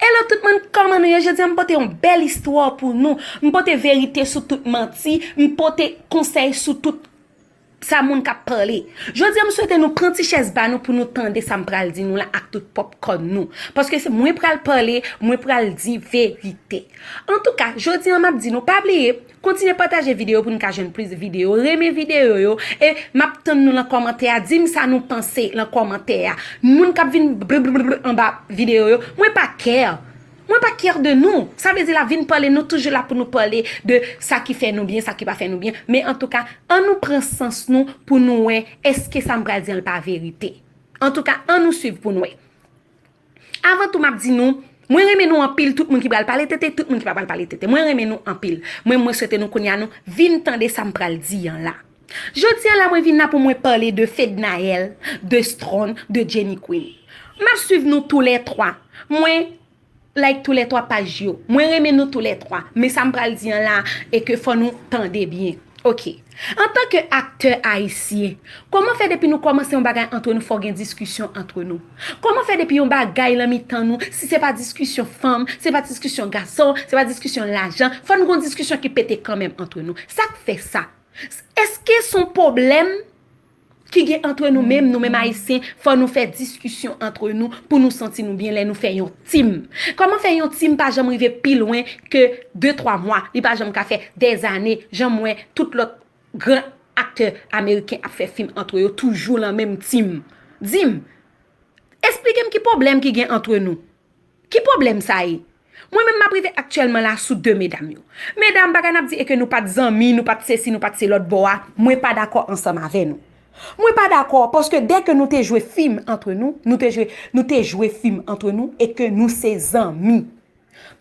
Hello tout moun kòman nou ye jodi an m pote yon bèl istwa pou nou m pote verite sou tout manti m pote konsèy sou tout sa moun kap pale jodi an m swete nou pran ti chèz ba nou pou nou tande sa m pral di nou la ak tout pòp kòn nou paske se mwen pral pale mwen pral di verite antouka jodi an map di nou pa bliye Kontinye pataje video pou nou ka jwenn plis video renmen video yo e map tann nou lan kòmantè a dim sa nou panse lan kòmantè a moun kap vin bblblbl anba video yo mwen pa care mwen pa care de nou sa vle di la vin pale nou toujou la pou nou pale de sa ki fè nou byen sa ki pa fè nou byen men antouka an nou pran sans nou pou nou wè eske sam pral di an l pa verite antouka an nou swiv pou nou wè. Avan tou map di nou Mwen renmen nou anpil tout moun ki pral pale tete tout moun ki pa pral pale tete mwen renmen nou anpil mwen mwen swete nou kounya nou vin tande sam pral di an la jodia la mwen vin la pou mwen pale de fednaelle de strong de jenny queen map swiv nou tou lè 3 mwen like tou lè 3 paj yo mwen renmen nou tou lè 3 men sam pral di an la e ke fò nou tande byen ok. Antan ke aktè ayisyen, kòman fè depi nou kòmanse yon bagay antre nou fò gen diskisyon antre nou? Kòman fè depi yon bagay lan mitan nou, si se pa diskisyon fanm, se pa diskisyon gason, se pa diskisyon lajan, fò n gon diskisyon ki pete kanmenm antre nou? Sa k fè sa? Èske s on pwoblèm? ki gen antre nou menm, nou menm ayisyen, fò nou fè diskisyon antre nou pou nou santi nou byen lè nou fè yon team. Kòman fè yon team pa janm rive pi lwen ke de twa mwa, li pa janm ka fè dè zane jan m wè tout lòt gran aktè ameriken ap fè fim antre yo toujou lan menm team. Di m, esplike m ki pwoblèm ki gen antre nou? Ki pwoblèm sa ye? Mwen menm m ap rive aktyèlman la sou 2 medam yo. Medam, bagay n ap di e ke nou pa t zanmi, nou pa t sesi, nou pa t selòt bò a, mwen pa dakò ansanm avè nou. Mwen pa dakò, paske dè ke nou te jwe fim antre nou, nou te jwe, nou te jwe fim antre nou e ke nou se zanmi.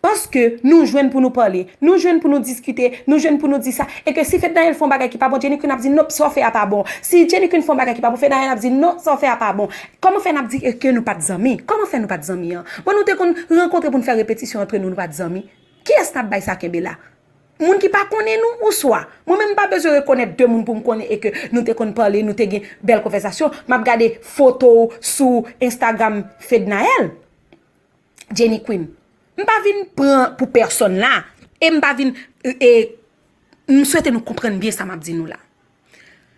Paske nou jwenn pou nou pale, nou jwenn pou nou diskite, nou jwenn pou nou di sa, e ke si Fednaelle fè yon bagay ki pa bon, Jenny Queen ap di, nop, sa w fè a pa bon. Si Jenny Queen fè yon bagay ki pa bon, Fednaelle ap di, non, sa w fè a pa bon. Kòman fè nap di eke nou pat zanmi? Kòman fè nou pat zanmi an? Bon nou te konn rankontre poun fè repetisyon antre nou nou pat zanmi? Kiyès nap bay sa kenbe la? Moun ki pa konnen nou ou swa? Mwen menm mpa bezwen rekonèt de moun poum konnen eke nou te konn pale nou te gen bèl konvèsasyon map gade foto ou sou Instagram Fednaelle Jenny Queen mpa vin pran pou pèsòn la e mpa vin e mswete nou konprann byen sa map di nou la.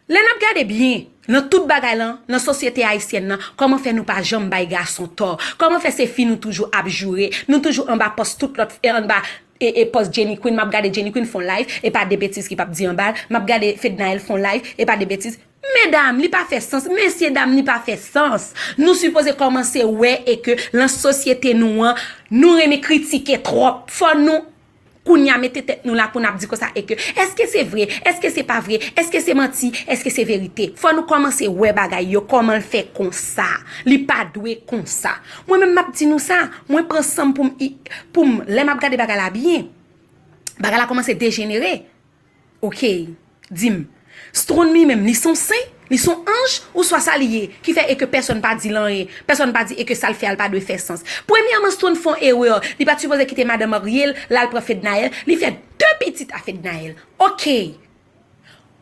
Lè nap gade byen nan tout bagay lan nan sosyete ayisyèn nan kòman fè nou pa janm bay gason tò kòman fè se fi nou toujou ap joure nou toujou anba pòs tout lòt fi anba e pòs Jenny Queen map gade Jenny Queen fon live e pa de betiz ki pap di anbal map gade Fednaelle fon live e pa de betiz medam li pa fè sans mesye dam li pa fè sans nou sipoze kòmanse wè e ke lan sosyete nou an nou renmen kritike tròp fò nou. Kounya mete tèt nou la pou nap di konsa e ke eske se vre, eske se pa vre, eske se manti, eske se verite. Fò nou kòmanse wè bagay yo kòman l fè konsa. Li pa dwe konsa. Mwen menm map di nou sa, mwen pran san m pou m, pou m, lè map gade bagay la byen, bagay la kòmanse dejenere. Okey. Di m. Stronn li menm, li son sen? Li son anj? Ouswa sa li ye, ki fè e ke pèsonn pa di l anyen, pèsonn pa di e ke sa l fè a l pa dwe fè sans? Premyèman, Stronn fè yon erè. Li pa t sipoze kite madan marye l, la l pran Fednaelle. Li fè de pitit a Fednaelle. Okey.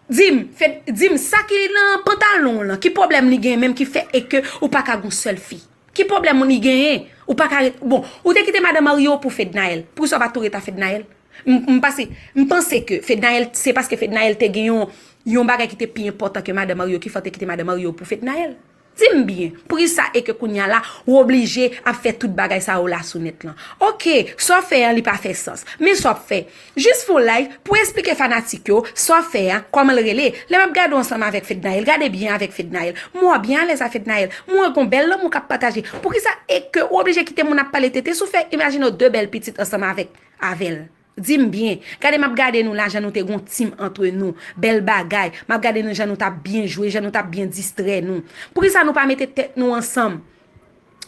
Di m, Fed, di m, sa ki nan pantalon w lan, ki pwoblèm li gen menm ki fè e ke ou pa ka gen yon sèl fi? Ki pwoblèm li genyen? Ou pa ka ret, bon, ou te kite madan marye w pou Fednaelle. Poukisa ou pa tou ret a Fednaelle? M pase, m panse ke Fednaelle, se paske Fednaelle te gen yon, yon bagay ki te pi enpòtan ke Madan Mario ki fè w te kite Madan Mario pou Fednaelle. Di m byen, poukisa e ke kounya la, ou oblije ap fè tout bagay sa yo la sou nèt lan? Ok, sa w fè an li pa fè sans. Men sa w ap fè? Jis fè w live pou esplike fanatik yo, sa w fè an, kòman l rele? Lè m ap gade w ansanm avèk Fednaelle, gade byen avèk Fednaelle, m wè w byen alèz a Fednaelle, m wè gon bèl lanmou k ap pataje. Poukisa e ke ou oblije kite moun ap pale tete sou fè, imajine w de bèl pitit ansanm avèk. Avèl. Dim byen, gade map gade nou la jan nou te gon team antre nou, bèl bagay, map gade nou jan nou tap byen jwe, jan nou tap byen distrè nou. Poukisa nou pa mete tèt nou ansanm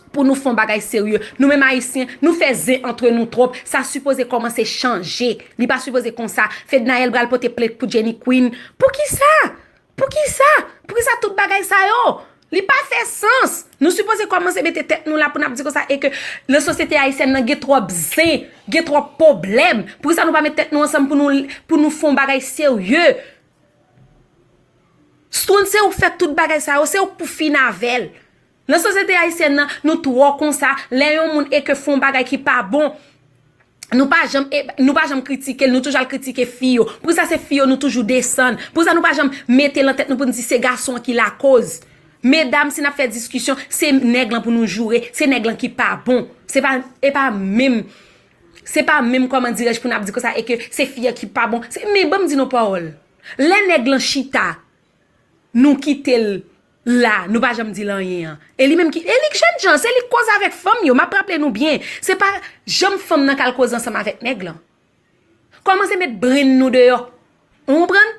pou nou fon bagay serye. Nou menm ayisyen, nou fè zen antre nou twòp, sa sipoze kòmanse chanje. Li pa sipoze konsa. Fednaelle pral pote plent pou Jenny Queen. Poukisa? Poukisa? Poukisa tout bagay sa yo? Li pa fè sans! Nou sipoze kòmanse mete tèt nou la pou n ap di konsa e ke nan sosyete ayisyèn nan gen twòp zen, gen twòp poblèm. Poukisa nou pa met tèt nou ansanm pou nou fon bagay serye? Stone se ou k fè tout bagay sa yo, se ou k pou fin avè l. Nan sosyete ayisyèn nan, nou twò konsa, lè yon moun e ke fè yon bagay ki pa bon, nou pa janm, nou pa janm kritike l, nou toujou al kritike fi yo. Pou sa se fi yo nou toujou desann. Pou sa nou pa janm mete lan tèt nou pou n di se gason an ki lakoz. Medam si n ap fè diskisyon, se nèg lan pou nou joure, se nèg lan ki pa bon. Se pa, e pa menm, se pa menm kòman dirèj pou n ap di konsa e ke se fi an ki pa bon. Se, men ban m di nou yon pawòl, lè nèg lan chita, nou kite l la nou pa janm dil anyen an e li menm ki e li k jènjan se li k koz avèk fanm yo map raple nou byen se pa janm fanm nan kal koze ansanm avèk nèg lan kòmanse met brenn nou deyò ou konprann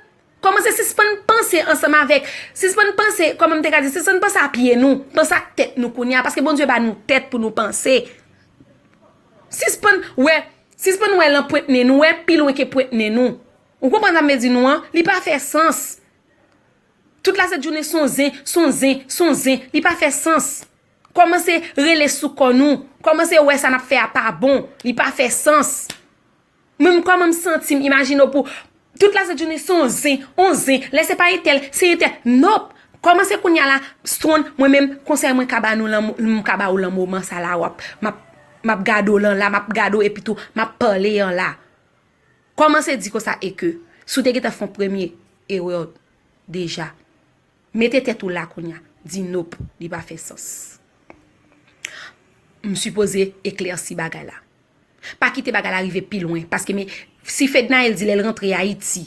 kòmanse sispann panse ansanm avèk sispann panse kòman m te ka di sispann panse a pye nou panse ak tèt nou kounye a paske Bondye ba nou tèt pou nou panse sispann wè sispann wè lan pwent nen nou wè pi lwen ke pwent nen nou ou konprann sa m vle di nou an li pa fè sans. Tout la set jounen son zen, son zen, son zen, li pa fè sans. Kòmanse rele sou kò nou, kòmanse wè sa nap fè a pa bon, li pa fè sans. Mwen m kòman m santi m imajine w pou tout la set jounen son zen, on zen, lè se pa entèl, se entèl, nop! Kòmanse kounya la, Strong, mwen menm konsèy mwen ka ba nou lan m ka ba ou lan moman sa la wap map map gade w lan la, map gade w epitou map pale an la. Kòmanse di konsa e ke si w te gentan fè yon premye erè w deja. Mete tèt ou la kounya, di nop, li pa fè sans. M sipoze eklèsi bagay la. Pa kite bagay la rive pi lwen paske me si Fednaelle di lè l rantre Ayiti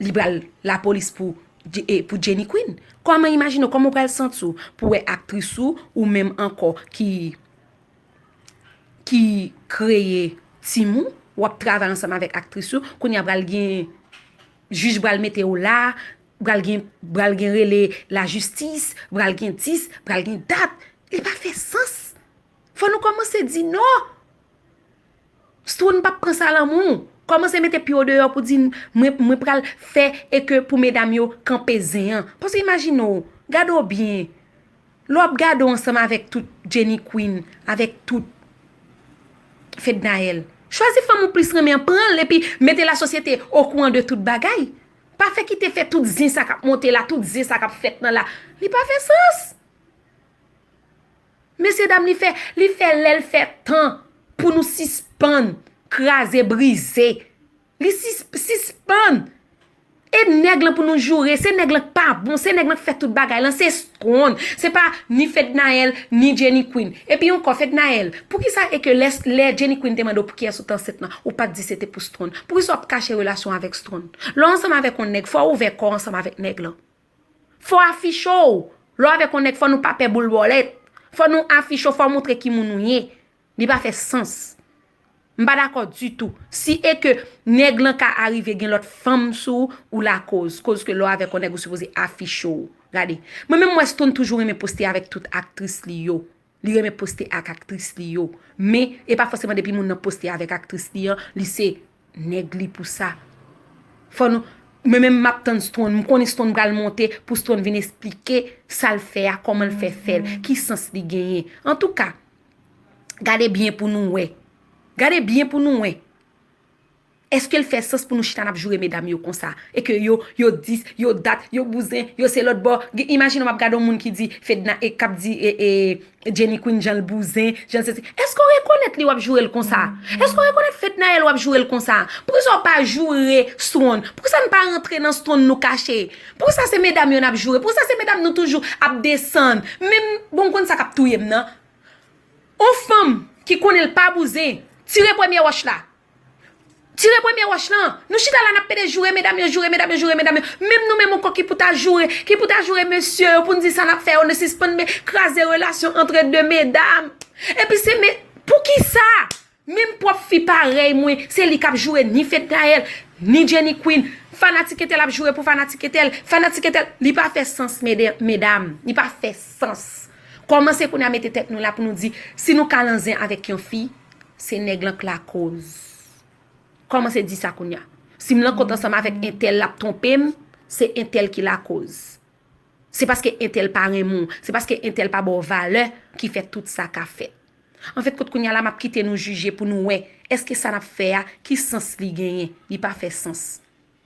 li pral lapolis pou Jenny Queen, kòman imajine w, kòman w pral santi w pou wè aktris ou, ou menm ankò ki. ki kreye team ou wap travay ansanm avèk aktris yo kounye a pral gen jij pral mete ou la pral gen pral gen rele la jistis pral gen dis pral gen dat li pa fè sans fò nou kòmanse di non Stroune pap pran sa lanmou. Komanse mete pye w deyo pou di mwen pral fe e ke pou medam yo kanpe zen an. Paske imajine w, gade w byen, le w ap gade w ansanm avek tout Jenny Queen, avek tout Fednaelle. Chwazi fanm ou plis renmen an, pran l epi mete la sosyete o kouran de tout bagay. Pa fe kite fe tout zen sa kap monte la, tout zen sa kap fet nan la. Li pa fe sans. Mesye dam li fè li fè lèl fè tan pou nou sispann kraze brize li sispann e nèg lan pou nou joure se nèg lan k pa bon se nèg lan k fè tout bagay lan se stwon se pa ni fednaèl ni jenny queen epi ankò fednaèl poukisa e ke lè lè jenny queen te mande w poukiyès ou t ansent lan ou pat di se te pou stwon poukisa w ap kache relasyon avèk stwon lè w ansanm avèk yon nèg fò w ouvè kò w ansanm avèk nèg lan. Fò afiche w. Lè w avèk yon nèg fò nou pa pè boul bòlèt. Fò nou afiche w, fò w montre ki moun ou ye. Li pa fè sans. M pa dakò ditou. Si e ke nèg lan ka arive gen lòt fanm sou ou, ou lakoz. Koz ke lè w avèk yon nèg ou sipoze afiche w. Gade. Mwen menm m wè Stone toujou renmen poste avèk tout aktris li yo. Li renmen poste ak aktris li yo. Men, e pa fòseman depi moun nan poste avèk aktris li an, li se nèg li pou sa. Fò nou, mwen menm m ap tann Strone, m konnen Strone pral monte pou Strone vin esplike sa l fè a, kòman l fè fè l, ki sans li genyen. Antouka, gade byen pou nou wè. Gade byen pou nou wè. Eske l fè sans pou nou chita nap joure medam yo konsa e ke yo yo dis yo dat yo bouzen yo se lòt bò gen imajine w ap gade yon moun ki di fedna e kap di e jenny queen jan l bouzen jan l sesi eske w rekonèt li w ap joure l konsa eske w rekonèt fednaelle w ap joure l konsa poukisa w pa joure stone poukisa n pa rantre nan stone nou kache poukisa se medam yo nap joure poukisa se medam nou toujou ap desann menm bon w konn sa kap touye m nan yon fanm ki konnen l pa bouzen tire premye wòch la Tire premye wòch lan. Nou chita la nap pede joure medam yo, joure medam yo, joure medam yo. Menm nou menm ankò ki pou ta joure, ki pou ta joure mesye yo pou n di sa nap fè yo nou sispann me kraze relasyon antre de medam. Epi se me, pou ki sa? Menm pwòp fi parèy mwen, se li kap joure ni Fednaelle, ni Jenny Queen. Fanatik entèl ap joure pou fanatik entèl, fanatik entèl. Li pa fè sans mede, medam. Li pa fè sans. Kòmanse kounye a mete tèt nou la pou nou di si nou kalan zen avèk yon fi se nèg lan k lakoz kòmanse di sa kounye a si m lan kont ansanm avèk entèl lap twonpe m se entèl ki lakoz se paske entèl pa renmen w se paske entèl pa ba w valè ki fè tout sa ka fèt anfèt kot kounye a la map kite nou jije pou nou wè èske sa nap fè a ki sans li genyen li pa fè sans.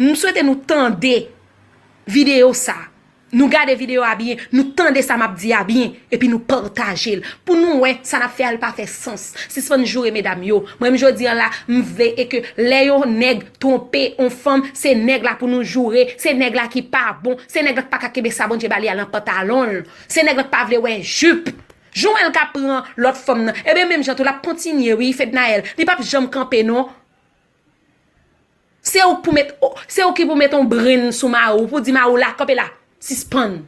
M swete nou tande video sa. Nou gade video a byen. Nou tande sa map di a byen. E pi nou pataje l. Pou nou wè sa nap fè a li pa fè sans. Sispann joure medam yo. Mwen m jodi an la m vle e ke lè yon nèg twonpe yon fanm se nèg la pou nou joure. Se nèg la ki pa bon. Se nèg la ki pa ka kenbe sa Bondye ba li a lan pantalon l. Se nèg la ki pa vle wè jup. Jan w wè l kap pran lòt fanm nan. E byen menm jan tou lap kontinye wi Fednaelle. Li pap janm kanpe non. Se ou ki pou met yon brenn sou mari w pou di mari w la kanpe la, sispann.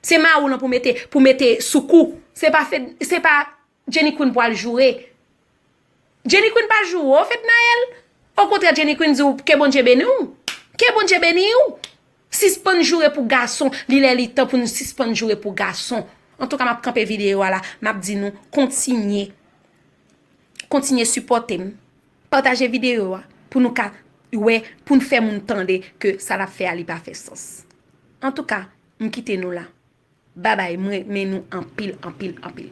Se mari w lan pou mete pou mete sou kou. Se pa fed se pa Jenny Queen pou al joure. Jenny Queen pa joure w Fednaelle. Okontrè Jenny Queen di w ke Bondye beni w. Ke Bondye beni w. Sispann joure pou gason. Li lè li tan pou nou sispann joure pou gason. Antouka m ap kanpe videyo a la. M ap di nou kontinye kontinye sipòte m. Pataje video a pou nou ka wè poun fè moun tande ke sa lap fè a li pa fè sans. Antouka m kite nou la. Babay m renmen nou anpil anpil anpil.